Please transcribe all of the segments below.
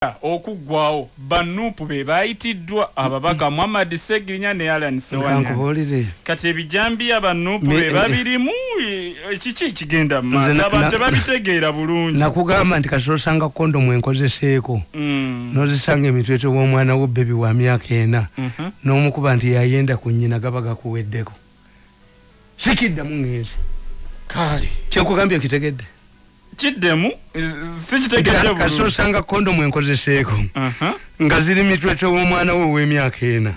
Uganda okuggwaawo, ba nup be baayitiddwa, ababaka Muhammad Ssegirinya ne Allan Ssewanyana. Kati ebijambiya ba nup be eh, babirimu, eh, kiki ekigenda mu maaso? Abantu tebabitegeera bulungi. Nakugamba nti kati osanga kondomu enkozeseeko mm. n'ozisanga emitwetwe w'omwana wo bbebi wa myaka ena mhm. n'omukuba nti yayenda ku nnyina gaba gakuweddeko. Sikiddamu ngenzi. Kaale. Kyekugambye okitegedde. kiddemu sikitegeerakasosanga kondomu enkozeseeko uh-huh. nga ziri mitwetwe w'omwana we ow'emyaka ena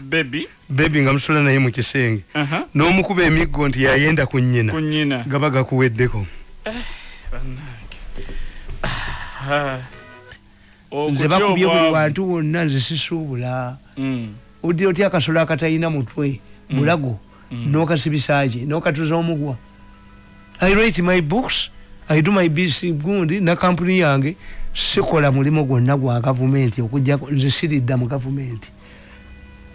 bebi nga musula naye mu kisenge uh-huh. n'omukuba emiggo nti yayenda ku nnyina gaba gakuweddeko eh, ah, ah. nze bakubye buli wantu wonna nze sisuubula mm. oddira otya akasolo akatalina mutwe mm. bulago mm. nokasibisaki nokatuza omugwa i write my books i do my bc gundi nakampuni yange sikola mulimu gwonna gwa gavumenti okujjako nze siridda mu gavumenti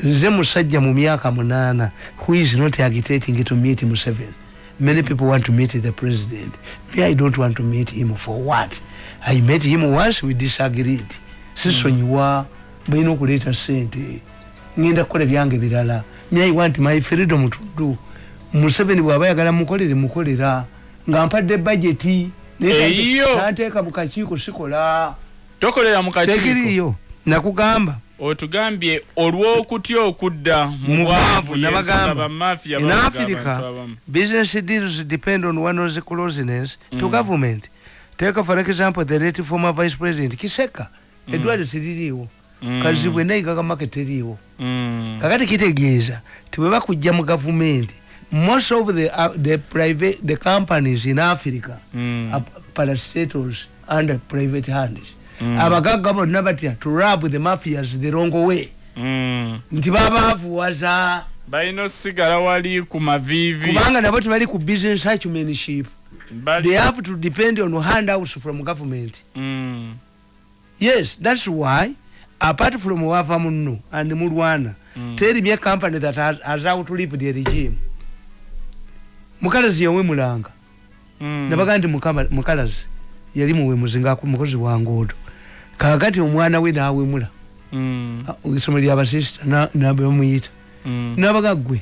nze musajja mu myaka munaana who is not agitating to meet museven many people want to meet the president me i don't want to meet him for what i met him once we disagreed sisonyiwa balina okuleeta sente ngenda kukola ebyange birala me i want my freedom to do museven bwaba yagala mukolere mukolera nga mpadde bajeti naye tanteeka bukakiiko sikola tokolera mu kakiiko tekiriiyo nakugamba otugambye olw'okutya okudda mu bwavu nabagamba in africa business deals depend on one's closeness mm. to government take for example the late former vice president kiseka mm. edwaliro teririiwo mm. kazibwe naigaka make teriiwo mm. kakati kitegeeza tibwebakujja mu gavumenti most of the, uh, the private the companies in africa mm. are parastatals under private hands mm. abagagga bonna batya to rub the mafias the wrong way mm. nti babavuwaza balina osigala wali ku mavivi kubanga nabo tebali ku business acumenship they have to depend on handouts from government mm. yes that's why apart from wava munno and mulwana mm. teri bya company that has, has out to live the regime mukalazi yawe mulanga mm. nabaga nti mukalazi yali muwe muzinga ku mukozi wa ngodo kakati omwana we nawe mula mm. isomali abasista na na bamuyita mm. nabaga gwe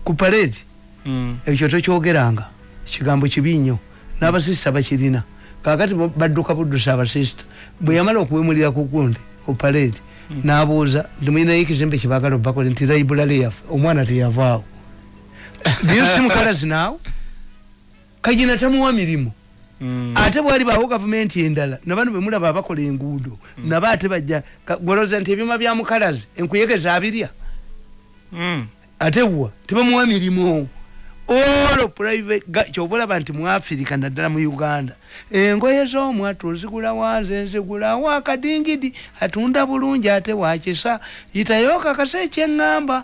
ku parade mm. ekyo tokyogeranga kigambo kibi nnyo n'abasista bakirina kakati badduka buddusa abasista bwe yamala okuwemulira ku gundi ku parade mm. n'abuuza nti mulinayo ekizimbe kibagala obakola nti laibulale yafe omwana teyavaawo do you see mukalazi naawe kayina tamuwa mirimu mm. ate bwali bawo gavumenti endala nabano bemulaba abakola enguudo mm. naba ate bajja goloza nti ebyuma bya mukalazi enkuyege zabirya mm. ate wa tebamuwa mirimu olo kyobalaba nti muafirika naddala mu uganda engoye zomwatu ozigula wanze nzigulawo akadingidi atunda bulungi ate wakisa yitayo kakasa ekyeŋŋamba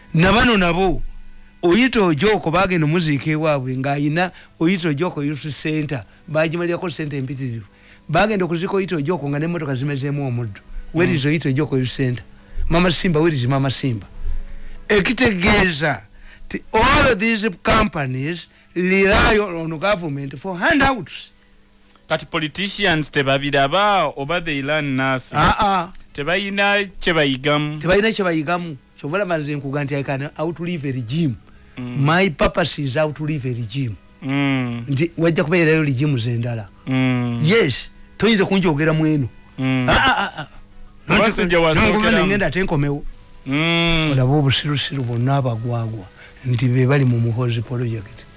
nabano nabo oyita ojoko bagenda omuziika ewaabwe ng'alina oyita ojoko youth center bagimalirako sente empitirivu bagenda okuziika oyita ojoko nga nemotoka zimezeemu omuddo werizi oyita ojoko youth center mama simba werizi mama simba ekitegeeza ti all these companies rely on government for handouts kati politicians tebabiraba oba they learn nothing aa ah, ah. tebalina kyebayigamu tebalina kyebayigamu Kyova olaba nze nkuga nti I can outlive a regime. Mm. My purpose is outlive a regime. Mm. Nti wajja kubeerayo regime z'endala. Mm. Yes, toyinza kunjogera mu eno. Mm. Ah, ah, ah. ah. Basajja wasookera. Nongo ngenda ate nkomewo. Mm. Olaba obusirusiru bonna abagwagwa nti be bali mu muhozi project.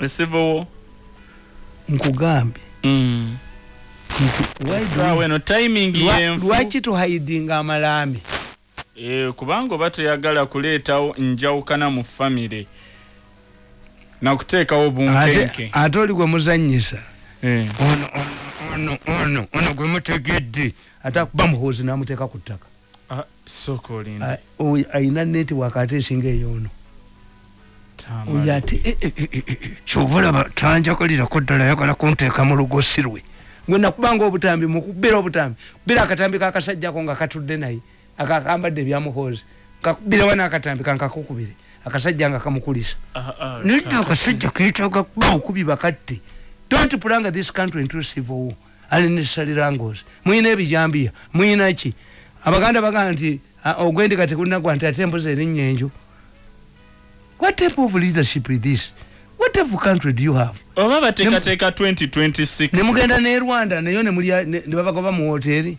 esivowo nkugambye mm. lwaki tuhaidinga amalaami eh, kubanga oba toyagala kuleetawo njawukana mu famire nakuteekawo bunkenke ate oli gwe muzanyisa eh. ono gwe mutegedde ate akuba muhoozi namuteeka ku ttaka ah, ayina netiwaka ate esinga eyoono oyo ate eh, eh, eh, kyova olaba tanjagalirako ddala ayagala kunteeka mu lugosi lwe gwe nakubanga obutambi mukubira obutambi kubira akatambi kakasajjako nga katudde naye akakambadde ebyamuhoozi kakubira wana akatambi kankakukubire akasajja nga kamukulisa ah, ah, naye akasajja ketaga kuba okubi bakatte don't pulanga this country into civil war ali ne salirangos muyina ebijambiya muyina ki abaganda bagamba nti ogwendiga tegunagwa nti ate embuzi erinnya enju what type of leadership is this what type of country do you have oba bateekateeka 2026 ne mugenda ne rwanda nayo ne babagoba mu woteeri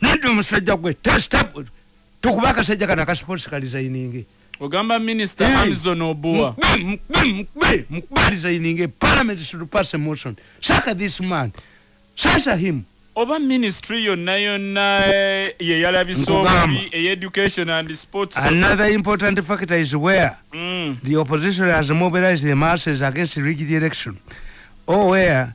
Nadu musajja gwe test up tukuba akasajja kana ka sports ka designing. Ogamba minister hey. Hamzon Obua. Mkbe, mkbe, mkbe, mkbe designing. Parliament should pass a motion. Saka this man. Sasa him. Oba ministry yo na yo na eh, ye yala biso bi e education and sports. Another important factor is where mm. the opposition has mobilized the masses against the rigid election. Oh, where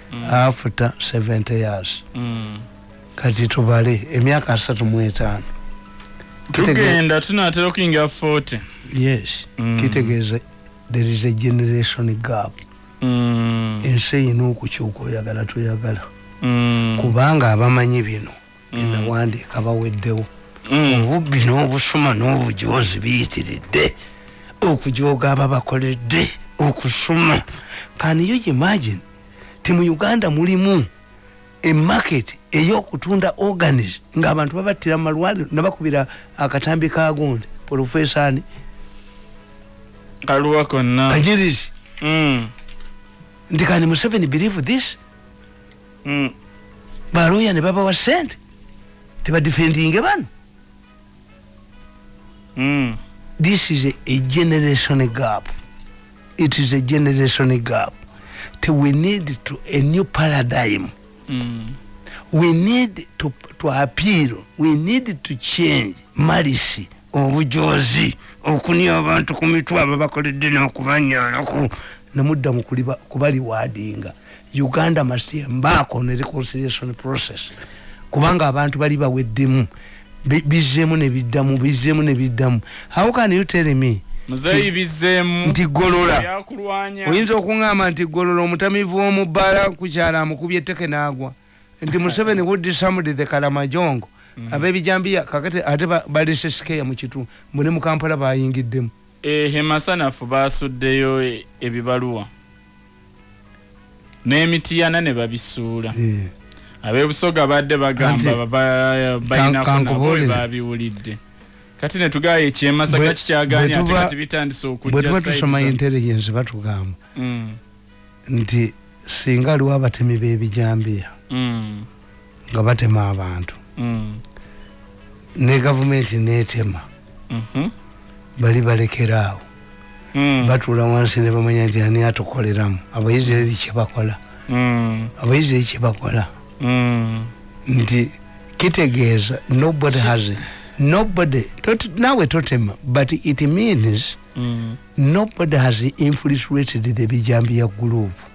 mm. after 70 years mm. kati tubale emyaka asatu mwetaano tugenda tunatera okuyingira 40 yes mm. kitegeeza there is a generation gap mm. ensi eyina okukyuka oyagala toyagala mm. kubanga abamanyi bino mm. nawandiika baweddewo mm. obubbi n'obusuma n'obujoozi biyitiridde okujooga ababakoledde okusuma can you imagine ti mu uganda mulimu emarket eyokutunda organis nga abantu babattira mumalwaliro nabakubira akatambi kagonde polofesani kaluwa konna kajirisi mm. nti kani museveni believe this mm. baloya ne babawa sente tebadifendinge bano mm. this is a, a generation gap it is a generation gap te we need to a new paradigm mm. we need to, to appeal we need to change malisi obujozi okunia abantu ku mitwe abo bakoledde n'okubanyalaku nemudda mu kubaliwaadinga uganda must embark on a reconciliation process kubanga abantu bali baweddemu bizzemu nebiddamu bizzemu nebiddamu how can you tell me muzeyi bizzemu nti golola oyinza okuŋama nti golola omutamivu womubbaala kukyala amukubye etteke naagwa nti museveni would somebody the kalamajongo mm -hmm. abebijambiya kakati ate balese sikeya mu kitu mune mu kampala bayingiddemu ehe masanafu basuddeyo e, ebibaluwa n'emitiyana ne babisuula eh. abebusoga badde bagamba balinako nabo babiwulidde kati ne tugaayo ekyemasaka kikyaganya ate kati bitandise okujja bwe tuba tusoma intelligence batugamba mm. nti singa aliwo abatemi b'ebijambiya mm. nga batema abantu mm. ne gavumenti netema mm-hmm. bali balekeraawo mm. batuula wansi ne bamanya nti ani atukoleramu abaisiraeri kyebakola mm. abaisiraeri kyebakola mm. nti kitegeeza nobody has it. nobody tot, nawe totema but it means mm. nobody has infiltrated the bijambiya group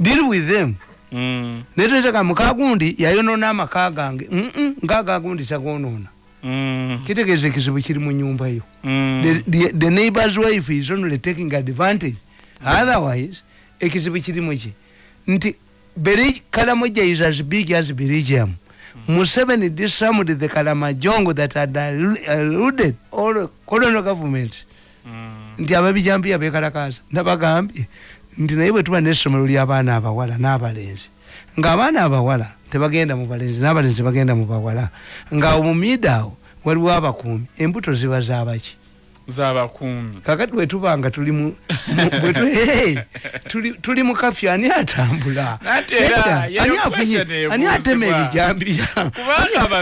deal with them mm. naye toyiteka mukagundi yayonona amaka gange ngaagagundi tagonona mm. kitegeeza ekizibu kiri mu nyumba yo mm. the, the, the neighbors wife is only taking advantage otherwise ekizibu kiri muki nti kalamojja is as big as birigium museveni disarmed the kalamajongo that had eluded all colonial governments nti ababijambiya bekalakaasa nabagambye nti naye bwetuba nesomero lyabaana abawala n'abalenzi ng'abaana abawala tebagenda mu balenzi n'abalenzi bagenda mu bawala ng'awo mu miida awo waliwo abakuumi embuto ziba zabaki zabakuumi kakati bwetuba nga tuli mu tuli mu kafyu ani atambula ani afunye ani atema ebijambiya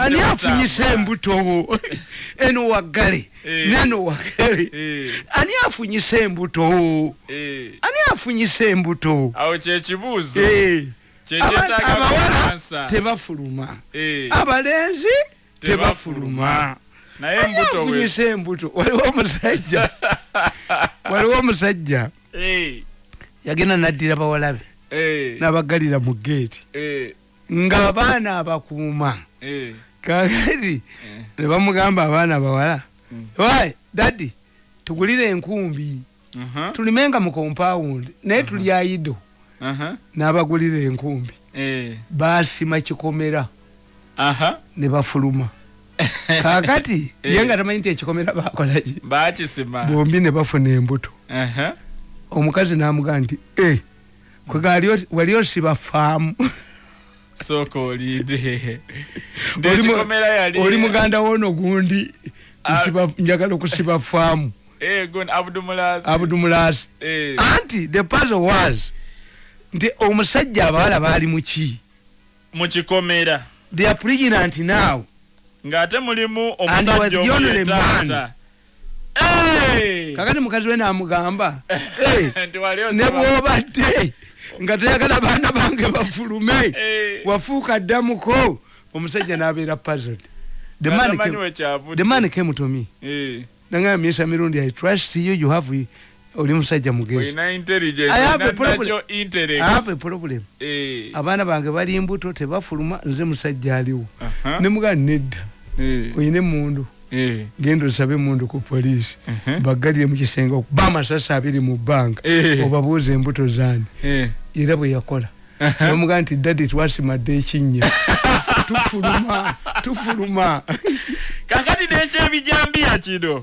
ani afunyisa embutowo eno waggale Eh. neno wakere eh. ani afunyisa embuto eh. ani afunyisa embuto awo kyekibuuzo abawala tebafuluma abalenzi tebafuluma naye afunyisa embuto waliwo omusajja waliwo omusajja yagenda naddira bawalabe nabagalira mu geeti ng'abaana abakuuma eh. kakati eh. ne bamugamba abaana abawala mm. wayi dadi tugulire enkumbi uh-huh. tulimenga mu kompawundi naye uh-huh. tuli ayido uh-huh. n'abagulira enkumbi eh. baasima kikomera ne bafuluma kakati ye nga tamanyi nti ekikomera bakolaki bombi ne bafuna embuto omukazi n'amugamba nti e wali osiba faamu sooka olinde oli muganda woono gundi ah. njagala okusiba faamu eh, abudumulaasi eh. anti the puzzle was nti omusajja abawala baali muki mukikomera they are pregnant now ng'ate mulimu omusajja omuyetaata kakati mukazi we namugamba nebwobadde nga tayagala baana bange bafulume wafuuka ddamuko omusajja nabeera puzzled the man came, the man came to me nangamba miesa mirundi i trust you you have oli musajja mugezi problem eh. abaana bange bali mbuto tebafuluma nze musajja aliwo nemugaa nedda eh. oyina emundu eh. genda osabe emundu ku poliisi uh-huh. bagalire mukisenge okuba amasasi abiri mu banka obabuuza embuto zani era bweyakola uh-huh. omugaa nti dadi twasimadde ekinnya tufuluma tufuluma kakati nekyebijambiya kino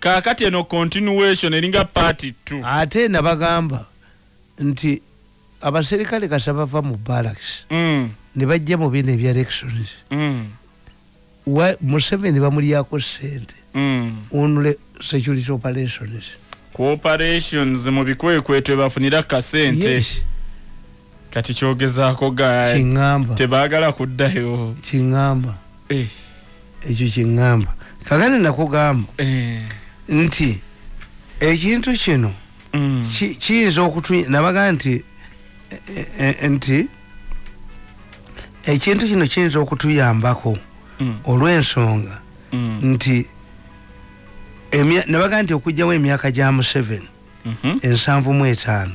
kakati eno continuation eringa part 2 ate nabagamba nti abaserikale kasa bava mu barracks mm. ne bajja mu bino ebya elections mm. museveni bamulyako sente mm. onule security operations cooperations mu bikwekweto ebafunira kasente yes. kati kyogezaako ga kiŋamba tebaagala kuddayo kiŋamba eh. ekyo kiŋamba kagane nakugamba eh. nti ekintu kino mm. kiyinza okutu nabaga nti eh, nti ekintu kino kiyinza okutuyambako mm. olw'ensonga mm. nti nabaga nti okugjawo emyaka gya museveni mhm. ensanvu mu etaano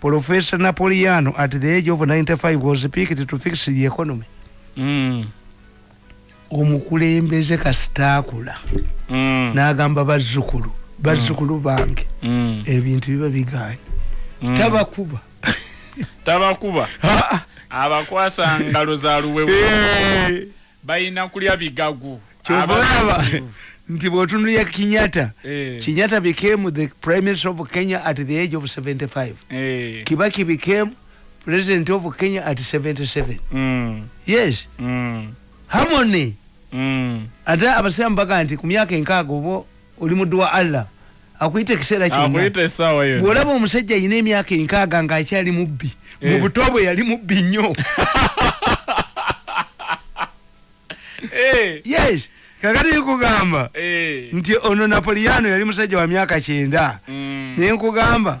Professor Napoleano at the age of 95 was picked to fix the economy. Mm. Omukulembeze kastakula. Mm. Nagamba bazukulu. Bazukulu mm. bange. Mm. Ebintu biba biganye. Mm. Tabakuba. Tabakuba. Abakwasa ngalo za luwewe. Hey. Eh. bayina kulya bigagu kyobalaba nti bwotunulya kinyata eh. kinyata became the prime minister of kenya at the age of 75 eh. kibaki became president of kenya at 77 mm. yes mm. harmony mm. ate abasiramu baga nti ku myaka enkaaga oba oli muddu wa allah akuyita ekiseera kyonakuyita esaawa yo bwolaba omusajja alina emyaka enkaaga nga akyali mubbi eh. mu buto bwe yali mubbi nnyo eh. yes kakati nkugamba eh. nti ono napoliano yali musajja wa myaka kyenda mm. naye nkugamba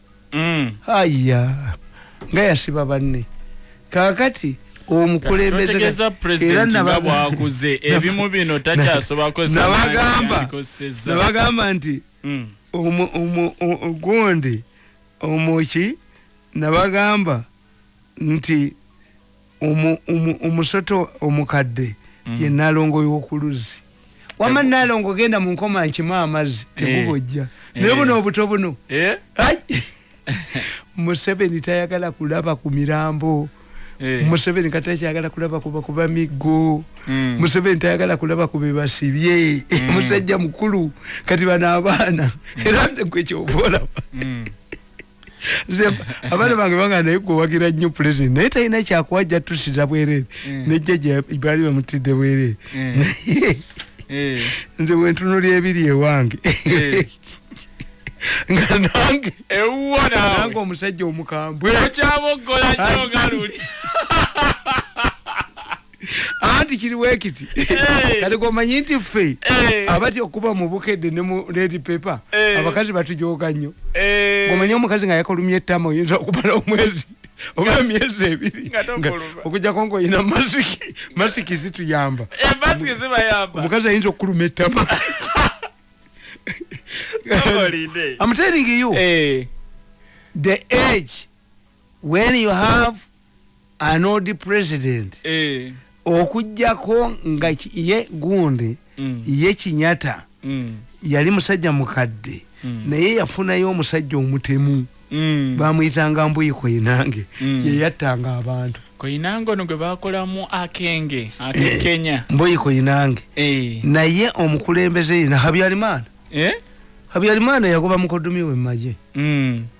mm. aya nga yasiba banne kakati omukulembezeera nabwakuze ebimu bino takyasobako nabagamba nabagamba nti mm. gundi omuki nabagamba nti omusota omukadde mm. ye nalongo yokuluzzi wama nalongo genda munkoma nkima amazzi eh. tegubojja eh. naye buno obuto buno eh. museveni tayagala kulaba ku mirambo museveni katakyagala kulaba kuba kuba miggo mm. museveni tayagala kulaba kubebasibye mm. musajja mukulu kati bano abaana era nkwekyovolaba abaana bange banga naye gwewagira nnyo pulezidenti naye talina kyakuwa jatusira bwerere mm. nejjaja baali bamutidde bwerere mm. eh. nze wentunuli ebiri ewange eh. nga nange ewuwanange omusajja omukambwe okyaboggola nyo nga luli anti kiri wekiti eh. kati gomanyi nti ffe eh. abati okuba mu bukedde ne mu redi pepa eh. abakazi batujoga nnyo gomanyi omukazi nga yakolumya ettama oyinza okubala omwezi oba emyezi ebiri okujjako ngaolina masiki masiki zituyamba omukazi ayinza okukuluma ettama I'm telling you, hey. the age when you have anodi president eh. okujjako nga ye gundi mm. ye kinyata mm. yali musajja mukadde mm. naye yafunayo omusajja omutemu mm. bamuyitanga mbuyi koinange mm. yeyattanga abantu koinange ono gwe bakolamu akenge akekenya eh, mbuyi koinange eh. naye omukulembeze yina habyarimana eh? habyarimana yagoba mukodumi we mumaje mm.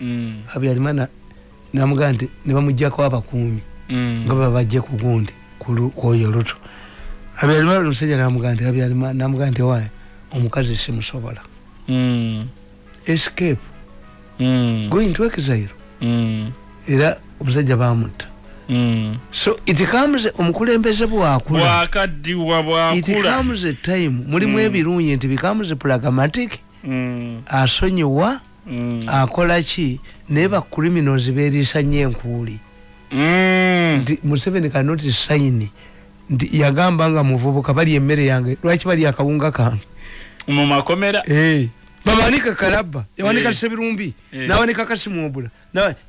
mm. habyarimana namugaa nti nebamujjako abakuumi mm. nga babajje ku gundi kwoyo luto habyarimana omusajja namugaa nti habyarimana namugaa nti waye omukazi simusobola mm. escape mm. going to exile mm. era omusajja bamutta mm. so it comes omukulembeze bwakula bwakaddiwa bwakula it comes a time mulimu mm. ebirungi nti becomes pragmatic mm. asonyiwa mm. akola ki naye ba criminals beriisa nnyo enkuuli mm. nti museveni cannot sign nti yagamba nga muvubuka bali emmere yange lwaki bali akawunga kange mu makomera hey. Eh. babanika kalabba yawanika hey. Eh. sebirumbi hey. Eh. nawanika kasimuobula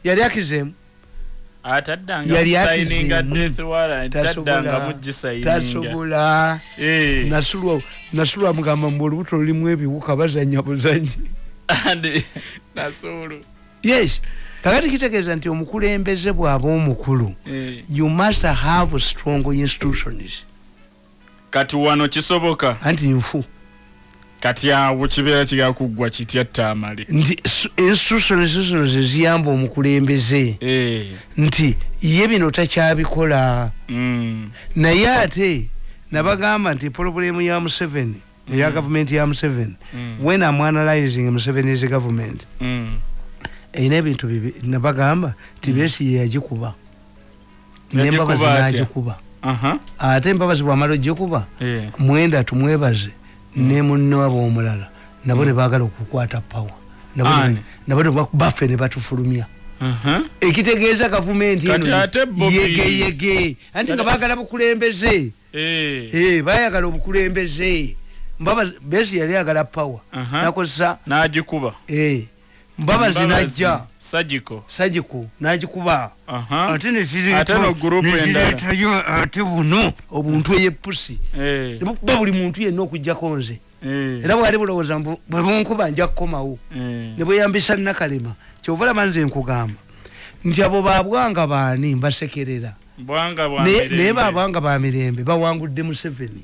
yali akizemu tasobola eh. nasulwa mugamba mbu olubuto lulimu ebiwuka bazanya buzanyi yes kakati kitegeeza nti omukulembeze bwaba omukulu eh. you must have strong institutions kati wano kisoboka anti nfu kati awo kibeera kigala kuggwa kitya taamale nti ensusuno ensusuno ze ziyamba omukulembeze eh. nti ye bino takyabikola mm. naye ate nabagamba nti poloburemu ya museveni mm. eya gavumenti ya museveni mm. when am analyzing museveni is government erina ebintu bibi nabagamba nti besi yeyagikuba nembabazi nagikuba ate mbabazi bwamala ogikuba eh. mwenda tumwebaze hmm. nemunewaba omulala nabo hmm. nebagala okukwata pawa nabo baffe nebatufulumya ekitegeeza gavumenti yegeyege anti nga bagala bukulembeze eh. Eh, bayagala obukulembeze mbaba besi yali agala pawa nakozesa nagikuba mbabazi najja sajiko sajiko najikuba ate nezireetayo ate buno obuntu eyepusi eh. nebukuba buli muntu yenna okujjako nze eh. era bwali bulowooza mbu bwebunkuba nja kukomawo eh. nebweyambisa nakalema kyova olaba nze nkugamba nti abo babwanga baani mbasekerera naye babwanga bamirembe bawangudde museveni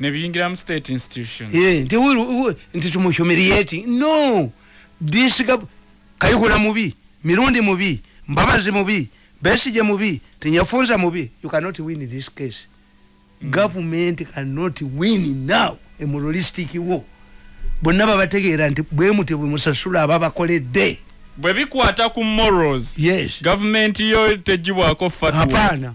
nebiyingiramu state institution eh, nti nti tumuhumiliati no disiga kayihura mubi mirundi mubi mbabazi mubi besije mubi tinyafunza mubi you cannot win this case mm. government cannot win now a moralistic war bonna babategeera nti bwemuti bwemusasula ababakoledde bwebikwata ku morals yes government yo tejibwako fatwa hapana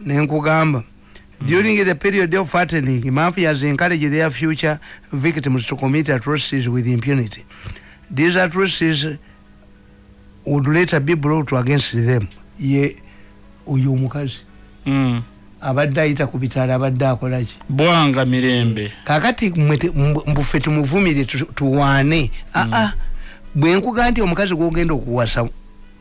nenkugamba during the period of fattening mafias encourage their future victims to commit atrocities with impunity these atrocities would later be brought against them ye oyo omukazi mm. abadde ayita ku bitala abadde akolaki bwanga mirembe kakati mbuffe tumuvumire tuwaane aa mm. ah, ah. bwenkuga nti omukazi gwogenda okuwasa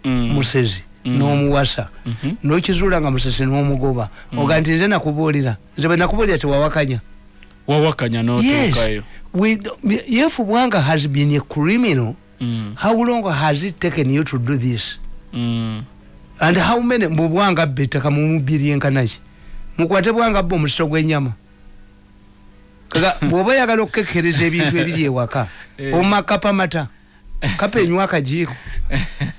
mm. musezi mm. nomuwasa mm -hmm. nokizula nga musezi nomugoba mm. oga nti nze nakubuulira nze bwe nakubuulira tewawakanya wawakanya notuukayo yes. yefu bwanga has been a criminal mm. how long has it taken you to do this mm. and how many mbu bwanga bbe ettaka mumubiri enkanaki mukwate bwanga bbe omusito gwenyama kaga bwoba oyagala okukekkereza ebintu ebiri ewaka eh. omakapamata kapa enywa akajiiko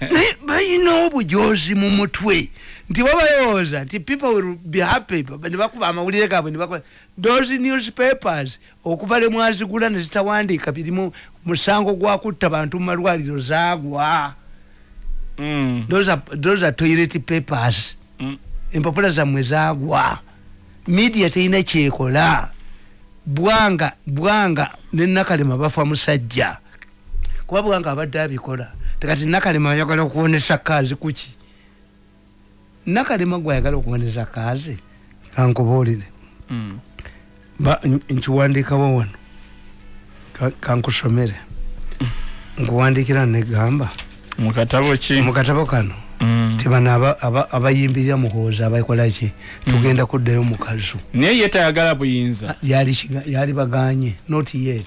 naye balina obujozi mu mutwe nti babalowooza nti people will be happy nebakuba amawulire gaabwe nebakola those newspapers okuva lwe mwazigula ne zitawandiika birimu musango gwa kutta bantu mu malwaliro zaagwa mm. those are, those are toilet papers mm. empapula zammwe zaagwa media terina kyekola bwanga bwanga nenakalema bafa musajja kuba bwange abadde abikola tekati nakalema ayagala okuwonesa kaazi kuki nakalema gwe ayagala okuwonesa kaazi kankubuulire hmm. nkiwandiikawo wano kankusomere nkuwandiikira negamba mukatabo ki mukatabo kano Mm. tibana abayimbirira muhooza abakola ki mm. tugenda kuddayo mukazu naye ye tayagala buyinza ah, yali baganye not yet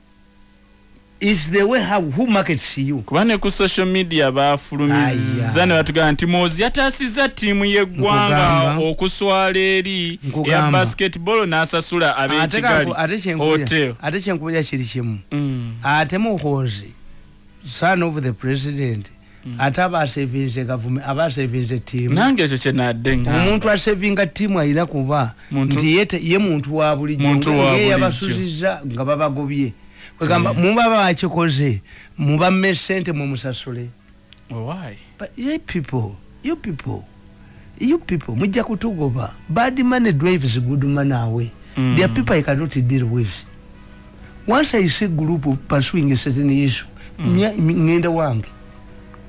is the way how who markets you kuba ne ku social media bafulumizza ne batugamba nti mozi yataasizza ttiimu y'eggwanga okuswala eri ya basketball n'asasula ab'ekigali hotel ate kyenkubuja kiri kimu mm. ate muhoozi son of the president Mm. ate aba asevinze gavumi aba asevinze tiimu nange ekyo kyenadde ngamba omuntu asevinga tiimu alina kuba nti ye muntu wa bulijjo ye yabasuziza nga babagobye kwegamba mm. muba bakikoze mubamme sente mumusasule why but you people you people you people mujja kutugoba bad money drives good money away mm. there are people i cannot deal with once i see group pursuing a certain issue mm. ngenda wange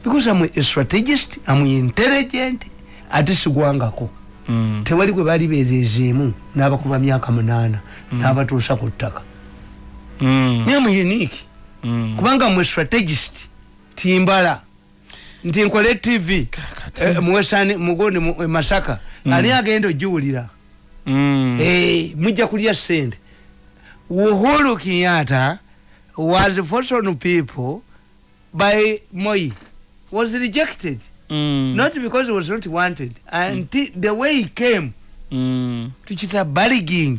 because i'm a strategist i'm intelligent ate sigwangako mm. tewali gwe bali bezezeemu n'abakuba myaka munaana mm. n'abatuusa ku ttaka mm. naye mu unique mm. kubanga mwe strategist timbala nti nkole tv eh, muwesani mugoni eh, masaka mm. ani agenda ojiwulira mm. eh, mujja kulya sente uhuru kinyata was foson people by moi was rejected mm. not because he was not wanted and mm. the way he came mm. to chita barging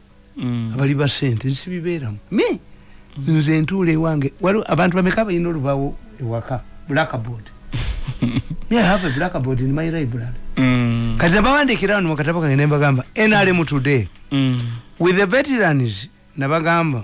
mm. abali ba sente nsibibeeramu me mm. nze ntuula ewange waliwo abantu bameka balina olubawo ewaka blackboard me i have a blackboard in my library mm. kati nabawandiikira wano mukatabo kange nembagamba nrm today mm. with the veterans nabagamba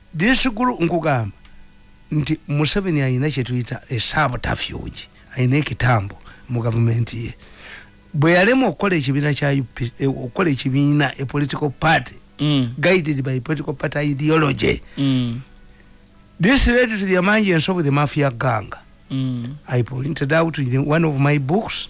this group nkugamba nti museveni alina kyetuyita esabutafuge alina ekitambo mu gavumenti ye bwe yalema okukola ekibiina kya eh, okukola ekibiina e political party mm. guided by political party ideology mm. this led to the amanji ensobu the mafia gang mm. i pointed out in one of my books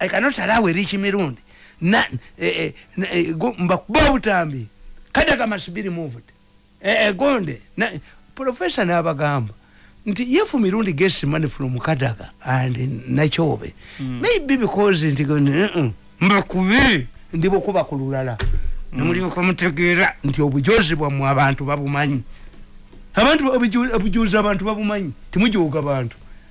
I cannot allow a rich Mirundi. Na, eh, eh, eh, go, mbakuba utambi. Kada kama subiri moved. Eh, eh, gonde. Na, professor na abagamba. Nti yefu Mirundi gets money from Kadaga and Nachobe. Mm. Maybe because nti gonde. Uh -uh. Mbakubi. Ndibo kuba kululala. Mm. Namuri kwa mtegira. Nti obujozi bwa mwa bantu babu manyi. Abantu obujozi abantu babu manyi. Timuji uga bantu.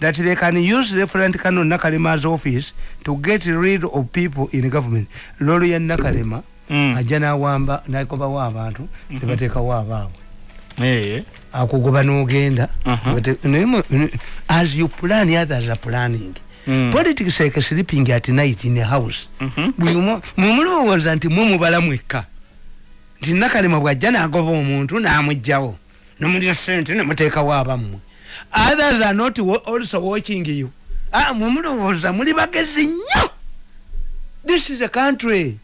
that they can use referent canon nakalema's office to get rid of people in government lolo ya nakalema mm. ajja nawamba nakobawo abantu mm -hmm. tebatekawo abaabwe hey. Eh. akugoba nogenda uh -huh. as you plan others are planning Mm. politics like sleeping at night in a house mm -hmm. mumulowooza nti mwe mubala mwekka nti nakalema bwajja nagoba omuntu namugjawo nomulira sente nemutekawo abamwe others are not also watching you ah, mumulowooza muli bagezi nnyo this is a country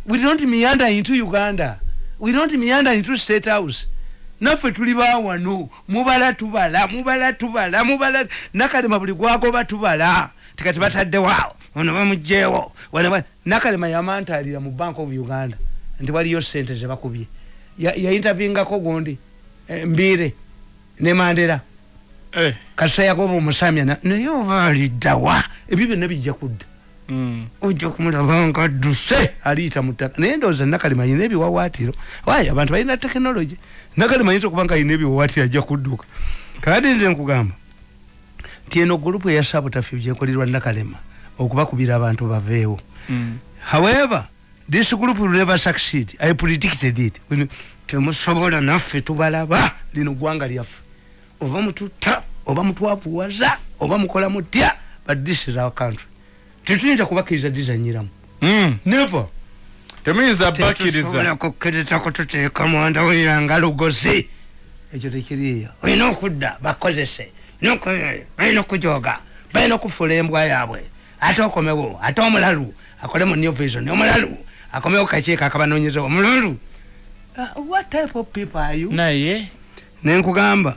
we don't meander into uganda we don't meander into state house naffe tuli bawano mubala tubala mubala tubala mubala nakalema buli gwagoba tubala tikati bataddewo ono bamugjewo Nakalema yamantaalira mu Bank of Uganda nti waliyo ssente ze bakubye. Yayintavingako gundi eh, Mbiire ne Mandera. Eh. Kasita yagoba omusamya naye ova aliddawa ebyo byonna bijja kudda. Mm. Ojja kumulaba nga adduse aliyita mu ttaka naye ndowooza Nakalema alina ebiwawaatiro. Waayo abantu balina tekinologi. Nakalema ayinza okuba nga alina ebiwawaatiro ajja kudduka. Kati nze nkugamba. nti eno gulupu eya sabutafi gyekolirwa nakalema okubakubira abantu baveewo mm. however this group will never succeed i predicted it temusobola naffe tubalaba lino gwanga lyaffe oba mututta oba mutwavuwaza oba mukola mutya but this is our country tetuyinza kubakiriza dizanyiramu hmm. never temuyinza bakiriza kukiriza kututeeka mwanda wira nga lugozi ekyo tekiriyo olina okudda bakozese balina okujoga balina okufuula embwa yaabwe ate okomewo ate omulalu akole mu new vision omulalu akomewo kakiiko akabanonyeza omulalu uh, what type of people are you naye nenkugamba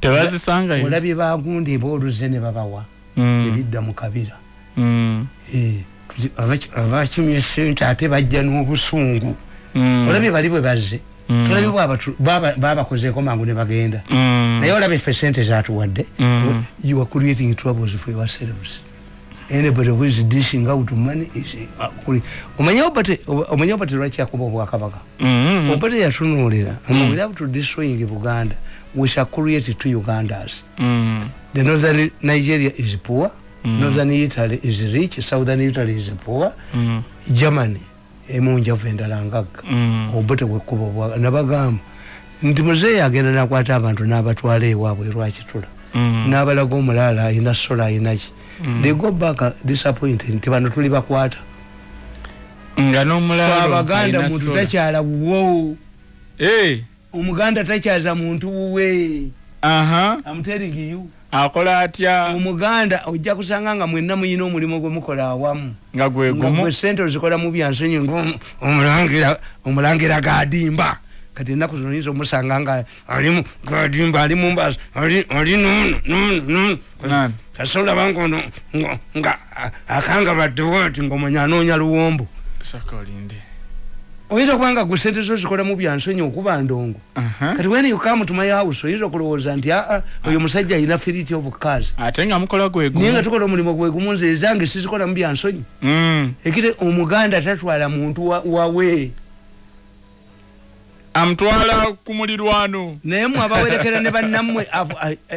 tebazisangayo olabye bagunda eba oluze ne babawa mm. ebidda mu kabira mm. eh, abakimye sente ate bajja n'obusungu mm. olabye bali bwe bazze tulabe babakozeeko mangu ne bagenda naye olabye ffe sente zatuwadde you are creating troubles for yourselves anybody who is dishing out money is uh, kuli omanya obate omanya obate lwaki akuba obwakabaka mm -hmm. obate yatunuulira mm -hmm. and without destroying buganda we shall create two ugandas mm -hmm. the northern nigeria is poor mm -hmm. northern italy is rich southern italy is poor mm -hmm. germany emu njavu endala ngagga mm. obuto bwekkuba obwa nabagamba nti muzeeyi agenda nakwata abantu n'abatwala ewaabwe lwakitula mm. n'abalaga omulaala alina sola alinaki mm. they go back uh, disappointed nti bano tuli bakwata nga n'omulaalo abaganda muntu takyala wuwo eh. omuganda takyaza muntu wuwe amuterigiyu akola atya omuganda ojja kusanga nga mwenna muyina omulimu gwe mukola awamu nga gwegumu sente ozikola mu byansonyi ngaomulangira omulangira gadimba kati ennaku zino yinza omusanga nga alimu gadimba ali mumbazi ali nono nono nono kasola bango no nga akanga badde wati ngo manya anonya luwombo saka olinde oyinza kuba nga gusente zo zikola mu byansonyi okuba ndongo kati when you come to my house oyinza okulowooza nti aa ah, ah, oyo musajja alina firiti of cars ate nga mukola gwegu naye nga tukola omulimu gwegumu nze ezange sizikola mu byansonyi mm. ekite omuganda tatwala muntu wawe wa amutwala ku mulirwano naye mwe abawerekera ne bannammwe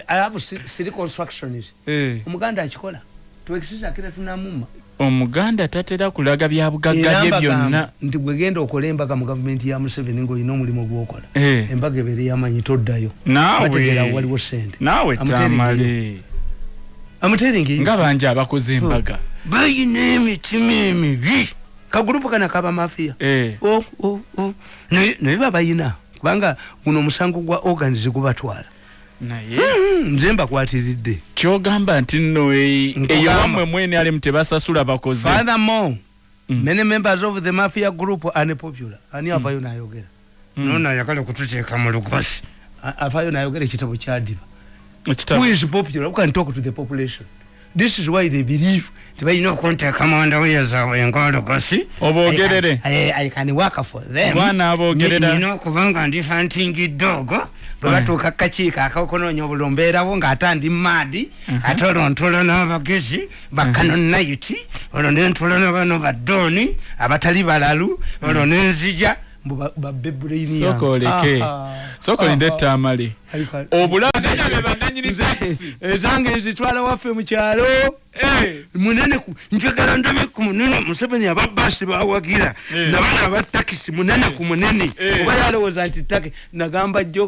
abo siri constructions eh. omuganda akikola twekisiza akira tunamuma omuganda tatera kulaga bya bugagga bye byonna nti gwe genda okola embaga mu gavumenti ya museveni ng'olina omulimu gw'okola eh. embaga ebeere yamanyi toddayo nawebategera waliwo sente nawe tamale amuteringi nga banja abakoze embaga bayina emitima emibi kagulupu kana kaba mafia eh. oh, oh, oh. naye babayina kubanga guno omusango gwa organs gubatwala naye hmm, nze mbakwatiridde kyogamba nti nno e- eyo wamwe mwene alimu tebasasula bakoze furthermore mm. many members of the mafia group are unpopular ani avayo mm. nayogera mm. nona ayagala okututeeka mu lugosi afaayo nayogera ekitabo kyadiba who is popular who can talk to the population this is why they believe nti balina okunteeka mu ndawuya zaabwe ngaolugosi oboogerere i can work for them mwana aboogerera nina okuba nga ndi fantingi doogo bwe mm. batuuka kukakiiko akaokunoonya obulumbeerawo ng'ate ndi maadi mm-hmm. ate olwo ntulo n'abagezi bakano mhm. nayiti olwo nentula nabano badooni abatali balalu olwo mhm. nenzija mbubabebuleiniyasokolinde etamale obulaezange nzitwala waffe mukyalo eh. munene njagala ndabe ku munene museveni ababasi bawagira eh. nabana abatakisi munene ku munene eh. oba yalowooza nti taki nagamba jo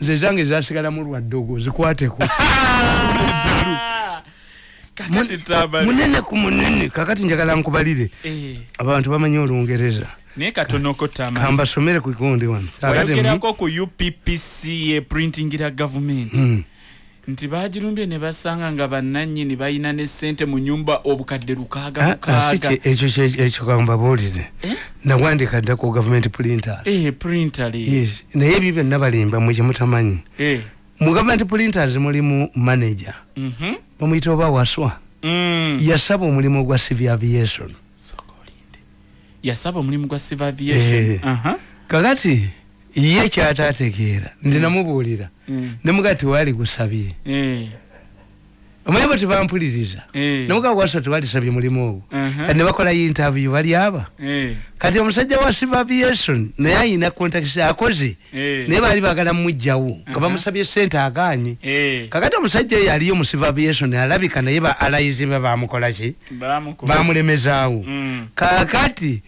nze zange zasigalamu lwa ddogo zikwateko munene ku munene kakati njagala nkubalire eh. abantu bamanyi olungereza naye katonoko tama kambasomere ku kikonde wano wayogerako ku uppca printingira gavumenti hmm. nti baagirumbye ne basanga nga bannannyini balina ne ssente mu nyumba obukadde lukaaga ah, lukaaga ah, ekyo ekyo kambabuulire eh? nawandiika dda ku gavumenti pulinta eh, pulinta naye ebyo byonna balimba mwe gye mutamanyi eh. mu gavumenti pulinta mulimu maneja mhm. bamuyita oba waswa mm. yasaba omulimu gwa civil aviation yasaba omulimu gwa civil aviation eh. uh -huh. kakati ye kyatategeera ndi mm. namubuulira mm. nemuga tewali gusabye eh. omanyi bo tebampuliriza eh. nemuga wasa tewalisabye mulimu ogwo uh-huh. kati nebakola interview bali aba eh. kati omusajja wa civil aviation naye ayina contact akoze naye baali bagala mujjawo nga uh-huh. bamusabye sente aganye kakati omusajja oyo aliyo mu civil aviation alabika naye ba alayizi be bamukolaki bamulemezaawo mm. kakati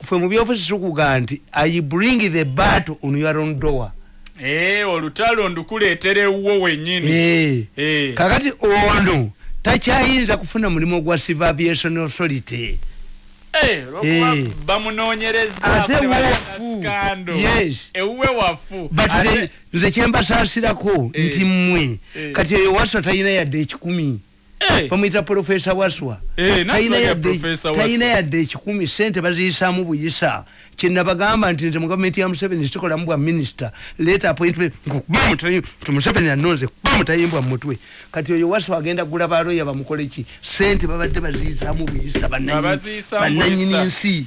fe mubyofuzi tukuga nti i bring the battle on your own door Hey, eh, olutalo ndukuletere uwo wenyini hey. Eh. Hey. Eh. kakati ono takyayinza kufuna mulimu gwa civil aviation authority Hey, hey. bamunonyerezaate wafu yes. ewuwe wafu but nze kyembasasirako hey. nti mwe hey. kati eyo wasa tayina yadde ekikumi Eh. bamuyita profesa waswa eh, talina yadde ekikumi sente baziyisamu buyisa kyenabagamba nti nze mugavumenti ya museveni sikolamu bwa minisita leta appointment nti museveni anonze kuba mutayimbwa mumutwe kati oyo waswa agenda gula baloya bamukoleki sente babadde baziyisamu buyisa bananyini nsi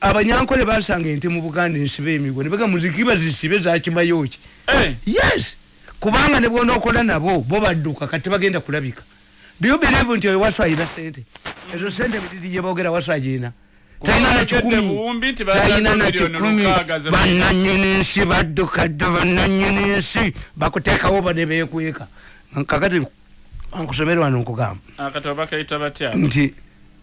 abanyankole basanga ente mu buganda ensibe emigo nebega muzikiba zisibe zakimayoki eh. yes kubanga nebwonokola nabo bo badduka kati bagenda kulabika do believe nti oyo wasu ayina sente ezo sente bididi yebogera wasu ajina tayina na kikumi tayina na kikumi bananyini nsi badduka dda bananyini nsi bakutekawo bade bekweka kakati nkusomere wano nkugamba ah, nti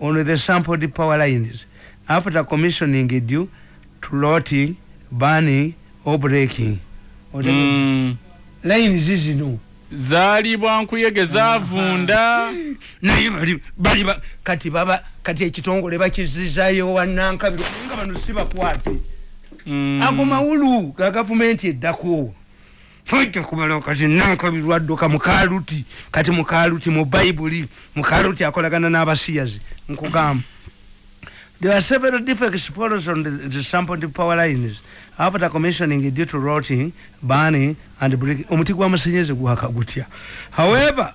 on the sampled power lines after commissioning due to lotting, burning or breaking. Mm. Lines zino zaali bwankuyege zavunda naye bali bali kati baba kati ekitongole bakizizayo wanankabiro nga bano sibakwate mm. ago mawulu ga gavumenti eddako tojja kumalawo kati nankabirwa dduka mukaluti kati mukaluti mu bayibuli mukaluti akolagana n'abasiyazi nkugamba There are several different explorers on the, the sample to power lines after commissioning due to rotting, burning, and breaking. However,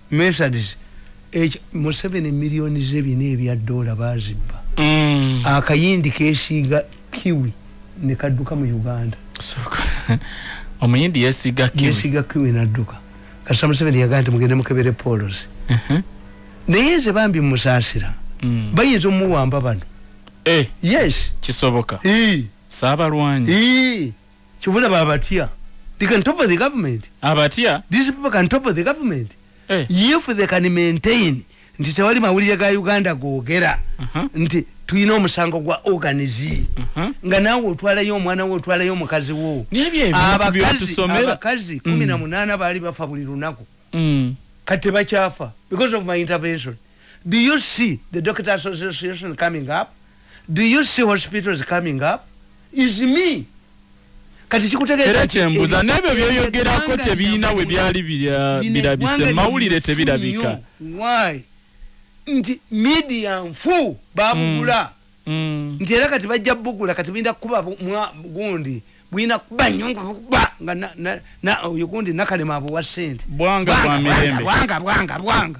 Methodist each Museveni million ze bina ebya dollar bazibba mm. akayindi kesiga kiwi ne kaduka mu Uganda so omuyindi yesiga kiwi yesiga kiwi na duka kasa Museveni yagante mugende mukebere polos uh mhm. -huh. naye ze bambi musasira mm. bayinza omuwamba bano eh. yes kisoboka eh. sabalwanyi eh. Chivula ba abatia. They can topple the government. Abatia? These people can topple the government. Eh. If they can maintain. Nti tewali mawulire ga Uganda googera. Uh -huh. Nti tulina omusango gwa organize uh mhm. -huh. nga naawe otwalayo omwana we otwalayo omukazi wo abakazi kumi na mm. munaana baali bafa buli lunaku mm. kati tebakyafa because of my intervention do you see the doctor association coming up Do you see hospitals coming up? Is me. Kati kikutegeeza era kyembuza n'ebyo byoyogerako tebiyina we byali birabise mawulire tebirabika. Why? Nti media nfu babugula. Mm. Mm. Nti era kati bajja bugula kati binda kuba mwa gundi. bwina kuba nyo nga kuba nga na na na oyo gundi nakalema abo wa sente. Bwanga bwa mirembe. Bwanga bwanga bwanga.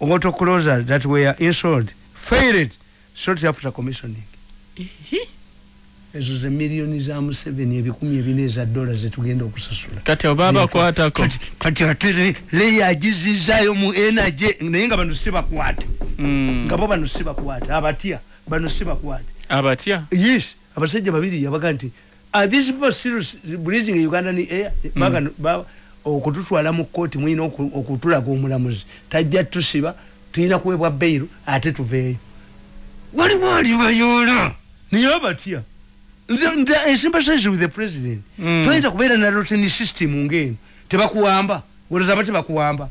auto closers that were installed failed shortly after commissioning ezo ze millioni za museveni ebikumi ebina eza dola zetugenda okusasula kati obabakwatako kati ate leya agizizayo mu energy naye nga bano sibakwate hmm. nga bo bano sibakwate abatya bano sibakwate abatya yes abasajja babiri yabaga nti Are these people still breathing in Ugandan air? Mm. Baga, ba, okututwala mu kkooti mulina okutulaga omulamuzi tajja tusiba tulina kuweebwa beyiro ate tuveeyo waliwo alibayoola naye abatya ensimpasaizi with the president mm. toyinza kubeera na roteni system ngaeno tebakuwamba olozaba tebakuwamba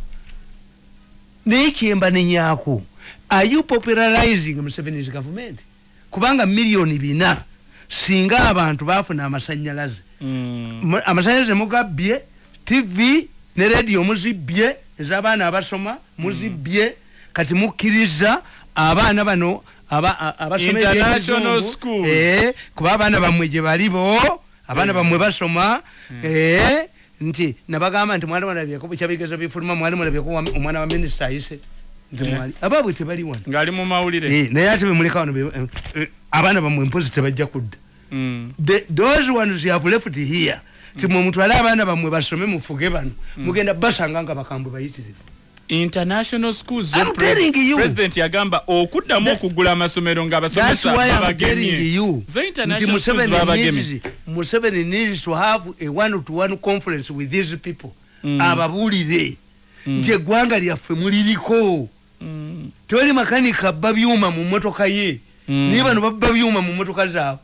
naye kyemba nenyako are you popularizing museveni's government kubanga million bina singa abantu bafuna amasanyalaze mm. amasanyalaze mugabbye tv ne radio muzibbye ezabaana abasoma muzibbye mm. kati mukkiriza abaana bano abasomeeekuba eh, abaana bamwe gye balibo abaana mm. bamwe basoma mm. eh, nti nabagamba nti mwali mulabyeko bukya bigezo bifuluma mwali mulabyeko omwana wa minisita ayise eh. ababwe tebali wano ngali mu mawulire eh, naye ate bemuleka wano eh, abaana bamwe mpozi tebajja kudda mm. those ones you have left here timwe mm. mutwale abaana bamwe basome mufuge bano mm. mugenda basanga nga bakambwe bayitirivu international schools I'm telling you president yagamba okuddamu okugula amasomero nga abasomesa babagemye you the international schools babagemye Museveni needs to have a one to one conference with these people mm. ababulire mm. nti eggwanga lyaffe muliriko mm. tewali makanika abba byuma mu mmotoka ye mm. naye bano babba byuma mu mmotoka zaabwe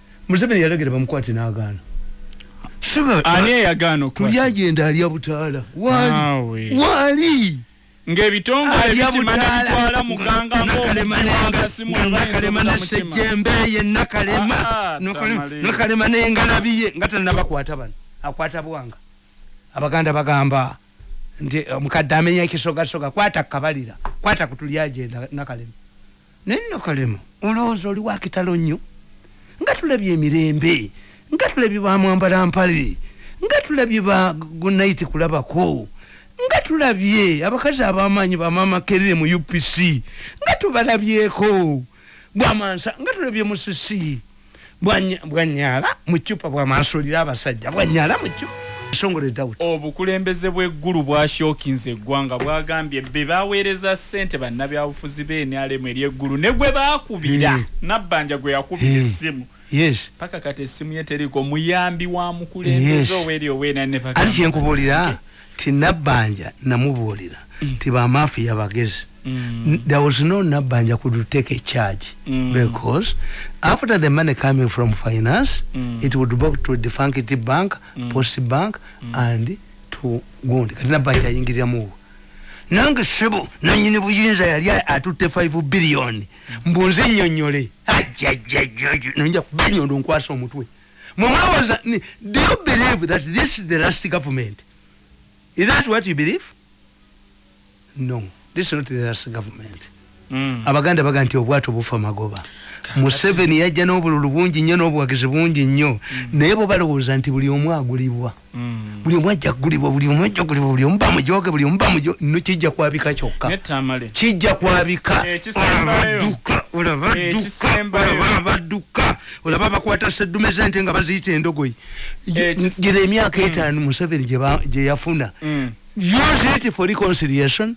Museveni yalagira bamukwate n'agaana. Ani eyagaana okukwata? Tuli agenda alya butaala. Waali. Waali. ng'ebitongole bikimanya bitwala muganga ng'omukalema nasejjembe ye nakalema ah, nakalema n'engalabi ye nga tanabakwata bano akwata bwanga abaganda bagamba nti omukadde amenya ekisogasoga kwata kabalira kwata kutuli agenda nakalema Naye nno kalema olowooza oli wakitalo nnyo nga tulabye emirembe nga tulabye bamwambala mpale nga tulabye ba gunayiti kulabako nga tulabye abakazi abamaanyi bamaama kerere mu upc nga tubalabyeko bwamansa nga tulabye musisi bwanyala mucupa bwamasulira abasajja bwanyala mucupa esongole dawuti obukulembeze bw'eggulu bwashokinze eggwanga bwagambye be baweereza ssente bannabyabufuzi b'enrm eri eggulu ne gwe baakubira hmm. nabbanja gwe yakubira hmm. essimu yes paka kati essimu ye teriko muyambi wa mukulembeze yes. oweri owena ne paka ali kyenkubuulira ti nabbanja namubuulira mm. ti bamafiya bagezi mm. there was no nabbanja could take a charge mm. because after the money coming from finance mm. it would go to the funkity bank mm. post bank mm. and to gundi kati nabbanja ayingiriramuwo nange sebo nanyini buyinza yali atutte 5 billion mbunze nyonyole ajajajaj nonja kubanyondo nkwasa omutwe mumwewoza do you believe that this is the last government is that what you believe no this is not the last government mm. abaganda baga nti obwato bufa magoba museveni yajja n'obululu bungi nnyo n'obuwagizi bungi nnyo mm. naye bo balowooza nti buli omu agulibwa mm. buli omu ajja kugulibwa buli omu ajja kugulibwa buli omu bamujoge buli omu bamujo no kijja kwabika kyokka kijja kwabika eh, duka olaba eh, duka olaba baduka olaba bakwata sedume zente nga baziyita endogoyi eh, gira emyaka mm. etaano museveni gye yafuna mm. use it for reconciliation